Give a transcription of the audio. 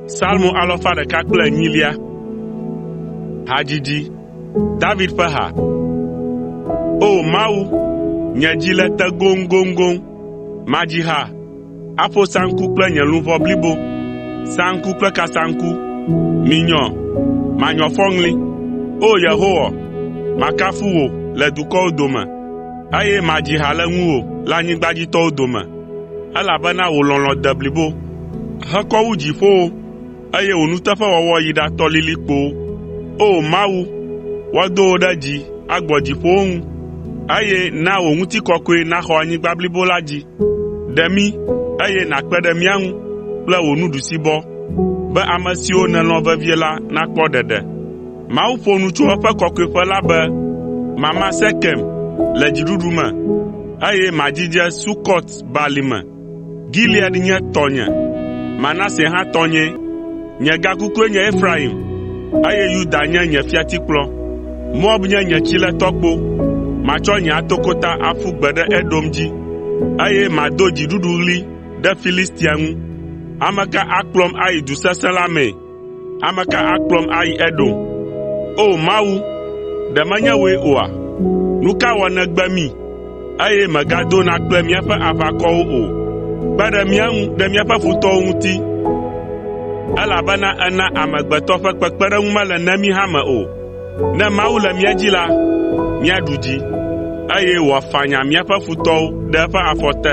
Salmo alafa ɖeka kple enyilia. Hadzidzi. David ƒe ha. O Mawu, nye dzi le te goŋgoŋgoŋ. Madzi ha, aƒo saŋku kple nye luʋɔ blibo. Saŋku kple kasaŋku. Minyɔ, manyɔ fɔŋli. O Yehowa, makafu wò le dukɔwo dome. eye madzi ha le ŋuwò le anyigbadzitɔwo dome, elabena wò lɔlɔ̃ de blibo hekɔ wu dziƒowo, eye wò nuteƒewɔwɔ yi ɖatɔ lilikpowo. O! Mawu, woado wò ɖe dzi agbɔ dziƒowo ŋu, eye na wò ŋutikɔkɔe naxɔ anyigba blibo la dzi. Ɖe mí, eye nàkpe ɖe mía ŋu kple wò nuɖusibɔ, be ame siwo nèlɔ̃ vevie la nakpɔ ɖeɖe. Mawu ƒo nu tso eƒe kɔkɔeƒe la be, “Mama Sekem le dziɖuɖu me, eye madzidze Sukɔt Balime. Gilead nye tɔnye, Manase hã tɔnyee. Nye gakukue nye Efraim, eye Yuda nye nye fiatikplɔ. Moab nye nye tsiletɔkpo. Matsɔ nye atokota aƒu gbe ɖe Edom dzi, eye mado dziɖuɖuɣli ɖe Filistia ŋu. Ame ka akplɔm ayi du sesẽ la mee?” Ame ka akplɔm ayi Edom? O! Mawu, ɖe menye wòe oa? Nu ka wɔ nègbe mí, eye mègadona kple míaƒe aʋakɔwo o? Kpe ɖe mía ŋu ɖe míaƒe futɔwo ŋuti, elabena èna amegbetɔ ƒe kpekpeɖeŋu mele nemi hã me o. Ne Mawu le mía dzi la, míaɖu dzi, eye wòafanya míaƒe futɔwo ɖe eƒe afɔ te.